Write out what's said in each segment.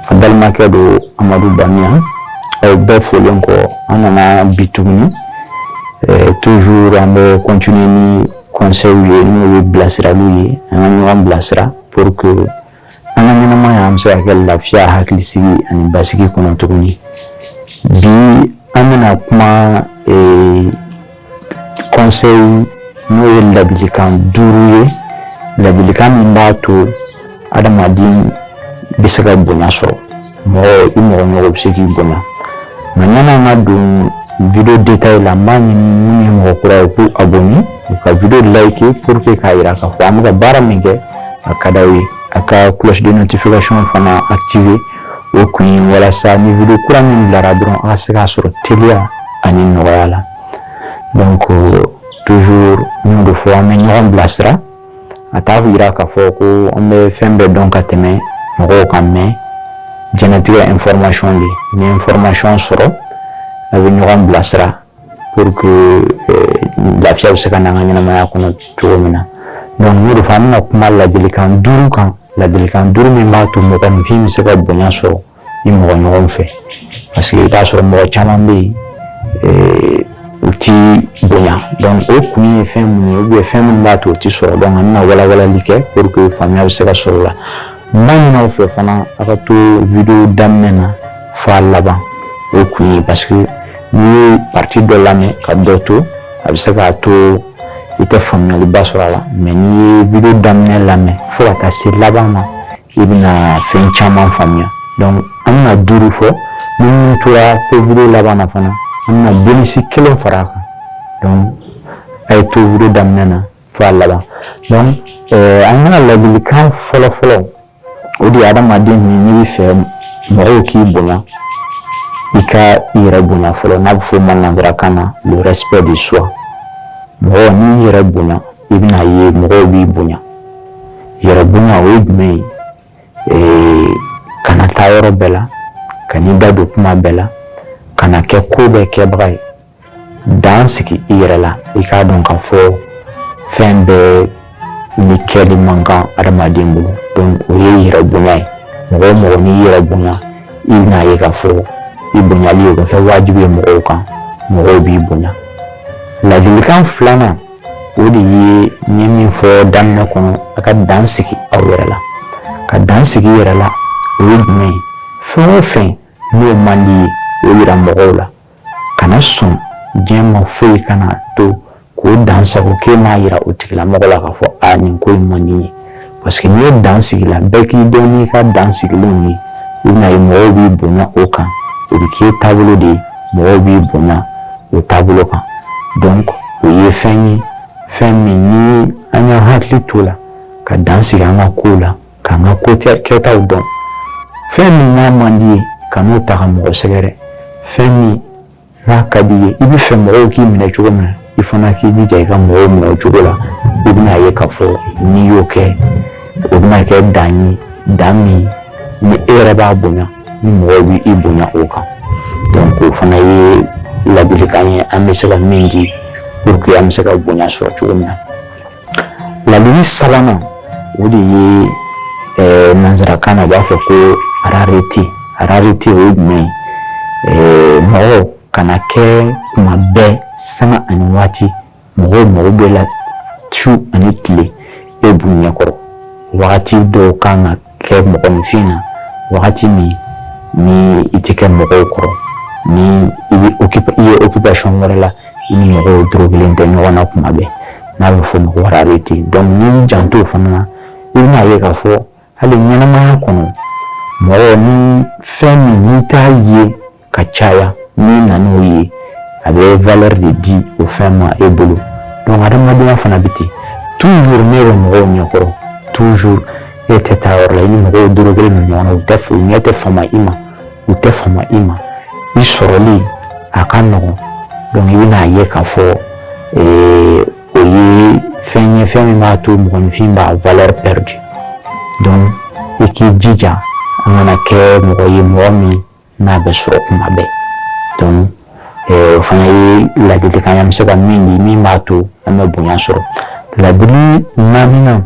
A balimakɛ don amadu bamiya aw bɛɛ folen kɔ an nana bi tuguni toujours an bɛ continuer ni conseilw ye n'o ye bilasiraliw ye an ka ɲɔgɔn bilasira pour que an ka ɲɛnamaya an bɛ se k'a kɛ lafiya hakilisigi ani basigi kɔnɔ cogo min bi an bɛna kuma ee, conseil n'o ye ladilikan duuru ye ladilikan min b'a to adamaden bɛ se ka bonya sɔrɔ mɔgɔ i mɔgɔ ɲɔgɔn bɛ se k'i bonya nka ɲani an ka don video détail la n b'a ɲini minnu ye mɔgɔ kura ye u k'u abonné u ka video liker pour que k'a jira k'a fɔ an bɛ ka baara min kɛ a ka di aw ye a ka cloche de notification fana activer o kun ye walasa ni video kura min bilara dɔrɔn a ka se k'a sɔrɔ teliya ani nɔgɔya la donc toujours n y'o de fɔ an bɛ ɲɔgɔn bilasira a t'a jira k'a fɔ ko an bɛ fɛn bɛɛ dɔn ka tɛmɛ mɔgɔw kan mɛ jɛnɛtigɛ information de ni information sɔrɔ an bɛ ɲɔgɔn bilasira pour que euh, lafiya bɛ se ka na an ka ɲɛnamaya kɔnɔ cogo min na donc n'o de fɔ an bɛna kuma ladilikan duuru kan ladilikan duuru min b'a to mɔgɔninfin bɛ se ka bonya sɔrɔ i mɔgɔ ɲɔgɔn fɛ paseke i t'a sɔrɔ mɔgɔ caman bɛ yen eh, u ti bonya o kun ye fɛn mun ye fɛn minnu b'a to u ti sɔrɔ an bɛna walawalali kɛ pour que faamuya bɛ se ka sɔrɔ o la n b'a ɲini aw fɛ fana a ka to video daminɛ na f'a laban o kun ye parce que n'i ye partie dɔ lamɛn ka dɔ to a bɛ se k'a to i tɛ faamuyaliba sɔrɔ a la mɛ n'i ye video daminɛ lamɛn fo ka taa se laban ma i bɛna fɛn caman faamuya an bɛna duuru fɔ n'i tora an fɛ video laban na fana an bɛna bonus kelen fara a kan a ye to video daminɛ na fo a laban an ka ladilikan fɔlɔ fɔlɔ o de ye adamaden n'i b'a fɛ mɔgɔw k'i bonya i ka i yɛrɛ bonya fɔlɔ n'a bɛ fɔ o ma nansarakan na le respect de soi mɔgɔ n'i y'i yɛrɛ bonya i bɛna ye mɔgɔw b'i bonya yɛrɛ bonya o ye jumɛn ye ee kana taa yɔrɔ bɛɛ la kana i da don kuma bɛɛ la kana kɛ ko bɛɛ kɛbaga ye dan sigi i yɛrɛ la i k'a dɔn ka fɔ fɛn bɛɛ ni kɛli man kan adamaden bolo donc o ye yɛrɛ bonya ye mɔgɔ o mɔgɔ n'i y'i yɛrɛ bonya i bɛna ye ka fɔ i bonyali o bɛ kɛ wajibi ye mɔgɔw kan mɔgɔw b'i bonya ladilikan filanan o de ye n ye min fɔ daminɛ kɔnɔ a ka dan sigi aw yɛrɛ la ka dan sigi i yɛrɛ la o ye jumɛn ye fɛn o fɛn n'o man di ye o yira mɔgɔw la kana sɔn diɲɛ ma foyi kana to k'o dansagon k'e m'a yira o tigilamɔgɔ la k'a fɔ a nin ko in man di n ye parce que n'i ye dan sigi la bɛɛ k'i dɔn n'i ka dan sigilenw ye i bɛna ye mɔgɔw b'i bonya o kan o bɛ k'i taabolo de ye mɔgɔw b'i bonya o taabolo kan donc o ye fɛn ye fɛn min ni an y'an hakili to a la ka dan sigi an ka kow la k'an ka ko kɛtaw dɔn fɛn min n'a man di ye kan'o ta ka mɔgɔ sɛgɛrɛ fɛn min n'a ka di ye i bɛ fɛ mɔgɔw k'i minɛ cogo min na i fana k'i jija i ka mɔgɔw minɛ o cogo la i bɛna ye k'a fɔ n'i y'o kɛ o bɛna kɛ dan ye dan min ni e yɛrɛ b'a bonya ni mɔgɔw bɛ i bonya o kan donc o fana ye ladilikan ye an bɛ se ka min di pour que an bɛ se ka bonya sɔrɔ cogo min na Ladili sabanan o de ye eh, nanzarakan na u b'a fɔ ko rareté rareté o ye jumɛn ye eh, mɔgɔ kana kɛ kuma bɛɛ sanga ani waati mɔgɔw mago b'e la su ani tile e b'u ɲɛkɔrɔ wagati dɔw kan ka kɛ mɔgɔninfin na wagati min ni i tɛ kɛ mɔgɔw kɔrɔ ni i bɛ i ye occupation wɛrɛ la i ni mɔgɔw dorogolen tɛ ɲɔgɔn na kuma bɛɛ n'a bɛ fɔ o ma ko rareté donc n'i y'i janto o fana na i bɛna ye k'a fɔ hali ɲɛnamaya kɔnɔ mɔgɔ ni fɛn min n'i t'a ye ka caya n'i nana a ye a bɛ valeur de di o fɛn ma e bolo donc hadamadenya fana bɛ ten toujours n'e ye mɔgɔw ɲɛkɔrɔ toujours e tɛ taa yɔrɔ la i ni mɔgɔw dorogolen bɛ ɲɔgɔn na u tɛ u ɲɛ tɛ fama i ma u tɛ fama i ma i sɔrɔli a ka nɔgɔn donc i bɛna a ye k'a fɔ o ye fɛn ye fɛn min b'a to mɔgɔninfin b'a valeur perdre donc i k'i jija an kana kɛ mɔgɔ ye mɔgɔ min n'a bɛ sɔrɔ kuma bɛɛ donc eh, o fana ye ladilikan ye an bɛ se ka min di min b'a to an bɛ bonya sɔrɔ ladili naaninan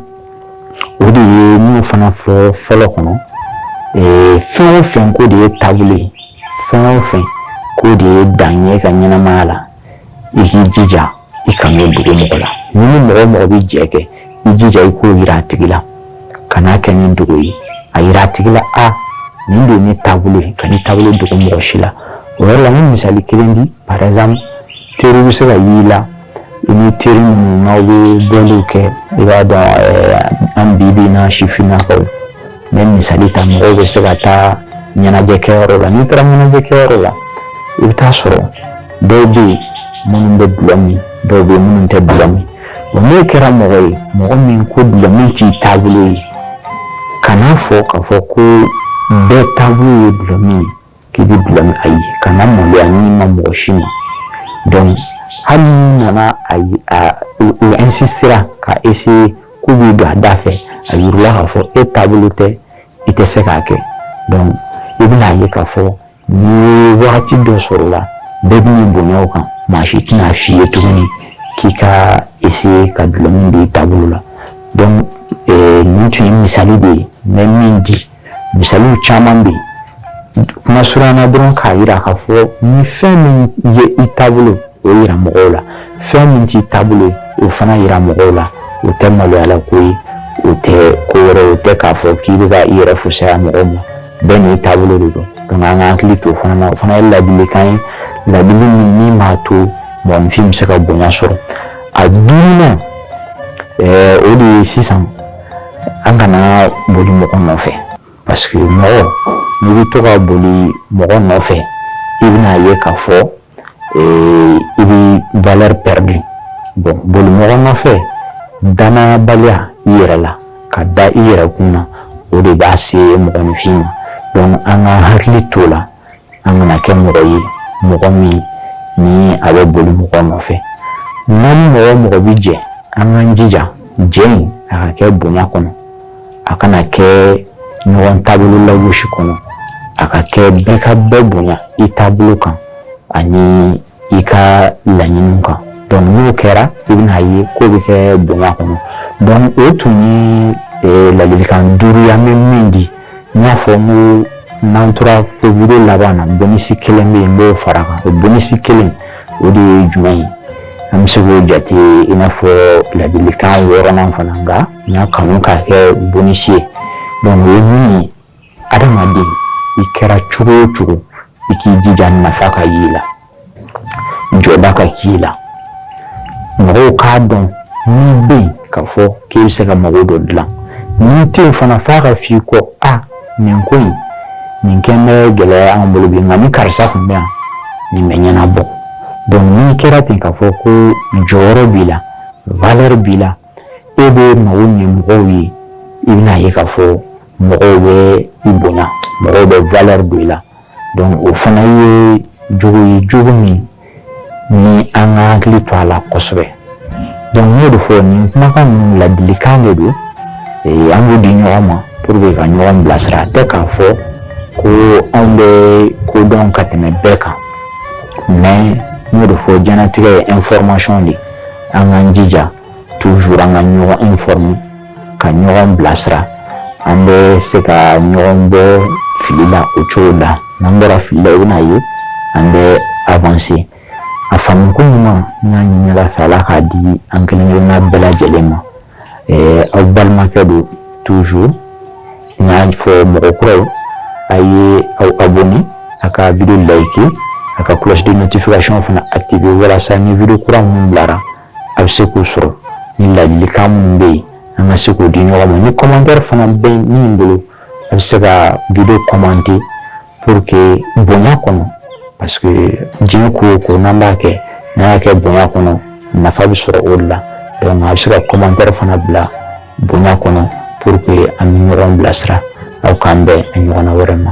o de ye n y'o fana fɔ fɔlɔ kɔnɔ eh, fɛn o fɛn k'o de y'i taabolo ye fɛn o fɛn k'o de ye dan ye i ka ɲɛnamaya la i k'i jija i kan'o dogo mɔgɔ la n'i ni mɔgɔ o mɔgɔ bɛ jɛ kɛ i jija i k'o yira a tigi la kan'a kɛ ni dogo ye a yira a tigi la a nin de ye ne taabolo ye kan'i taabolo dogo mɔgɔ si la o yɔrɔ la n bɛ misali kelen di par exemple teriw bɛ se ka y'i la i ni teri minnu n'aw bɛ bɔliw kɛ i b'a dɔn an bi bi in na sifinnakaw N bɛ misali ta mɔgɔw bɛ se ka taa ɲɛnajɛ kɛyɔrɔ la n'i taara ɲɛnajɛ kɛyɔrɔ la i bɛ taa sɔrɔ dɔw bɛ yen minnu bɛ dulɔ min dɔw bɛ yen minnu tɛ dulɔ min wa n'o kɛra mɔgɔ ye mɔgɔ min ko dulɔ min t'i taabolo ye kan'a fɔ k'a fɔ ko bɛɛ taabolo ye dulɔ min ye k'i bɛ dulɔ min ayi kana maloya ni ma mɔgɔ si ma donc hali n'i nana a a u insistera ka essayer k'u b'i don a da fɛ a yira u la k'a fɔ e taabolo tɛ i tɛ se k'a kɛ donc i bɛna ye k'a fɔ n'i ye wagati dɔ sɔrɔ o la bɛɛ b'i bonya o kan maa si tɛna f'i ye tuguni k'i ka essayer ka dulɔmin don i taabolo la donc nin tun ye misali de ye n bɛ min di misaliw caman bɛ yen kuma surun na dɔrɔn k'a yira k'a fɔ ni fɛn min ye i taabolo o yira mɔgɔw la fɛn min t'i taabolo o fana yira mɔgɔw la o tɛ maloyala ko ye o tɛ ko wɛrɛ o tɛ k'a fɔ k'i bɛ ka i yɛrɛ fusaya mɔgɔw ma bɛɛ n'i taabolo de don donc an ka hakili to o fana na o fana ye ladilikan ye ladili min min b'a to mɔgɔninfin bɛ se ka bonya sɔrɔ a duurunan o de ye sisan an kana boli mɔgɔ nɔfɛ parce que mɔgɔ n'i bɛ to ka boli mɔgɔ nɔfɛ i bɛna ye k'a fɔ eh, i bɛ valeur perdu bon boli mɔgɔ nɔfɛ danayabaliya i yɛrɛ la ka da i yɛrɛ kun na o de b'a se mɔgɔninfin ma donc an ka hakili t'o la an kana kɛ mɔgɔ ye mɔgɔ min ni a bɛ boli mɔgɔ nɔfɛ n'an ni mɔgɔ mɔgɔ bɛ jɛ an k'an jija jɛ in a ka kɛ bonya kɔnɔ a kana kɛ ɲɔgɔn taabolo lagosi kɔnɔ a ka kɛ bɛɛ ka bɛɛ bonya i taabolo kan ani i ka laɲini kan donc n'o kɛra i bɛna ye ko bɛ kɛ bonya kɔnɔ donc o tun ye eh, ladilikan duuru ye an bɛ min di n y'a fɔ n ko n'an tora fo vidéo laban na bonus kelen bɛ yen n b'o far'a kan o bonus kelen o de ye jumɛn ye an bɛ se k'o jate i n'a fɔ ladilikan wɔɔrɔnan fana nka n y'a kanu k'a kɛ bonus ye donc o ye min ye adamaden i kɛra cogo o cogo i k'i jija nafa ka y'i la jɔda ka k'i la mɔgɔw k'a dɔn n'i bɛ yen k'a fɔ k'i bɛ se ka mago dɔ dilan n'i tɛ yen fana f'a ka f'i kɔ a nin ko in nin kɛlen bɛ gɛlɛya an bolo bi nka ni karisa tun bɛ yan nin bɛ ɲɛnabɔ n'i kɛra ten k'a fɔ ko jɔyɔrɔ b'i la valeur b'i la e bɛ mago ɲɛ mɔgɔw ye i bɛna ye k'a fɔ mɔgɔw bɛ i bonya mɔgɔw bɛ valeur don i la donc o fana ye jogo ye jogo min ni an ka hakili to a la kosɛbɛ donc n y'o de fɔ nin kumakan ninnu ladilikan de don ee an b'u di ɲɔgɔn ma pour que ka ɲɔgɔn bilasira a tɛ k'a fɔ ko anw bɛ ko dɔn ka tɛmɛ bɛɛ kan mais n y'o de fɔ diɲɛnatigɛ ye information de ye an k'an jija toujours an ka ɲɔgɔn informer ka ɲɔgɔn bilasira an bɛ se ka ɲɔgɔn bɔ fili la o cogo la n'an bɔra fili la i bɛna ye an bɛ avancer a faamuko ɲuman n y'a ɲini ala fɛ ala k'a di an kelen kelenna bɛɛ lajɛlen ma ɛɛ aw balimakɛ don toujours n y'a fɔ mɔgɔ kuraw a ye aw abonner a ka video liker a ka cloche de notification fana activer walasa ni video kura minnu bilara a bɛ se k'u sɔrɔ ni ladilikan minnu bɛ yen an ka se k'o di ɲɔgɔn ma ni commentaire fana bɛ min bolo a bɛ se ka video commenter pour que bonya kɔnɔ parce que diɲɛ ko o ko n'an b'a kɛ n'an y'a kɛ bonya kɔnɔ nafa bɛ sɔrɔ o de la donc a bɛ se ka commentaire fana bila bonya kɔnɔ pour que an bɛ ɲɔgɔn bilasira aw k'an bɛn a ɲɔgɔnna wɛrɛ ma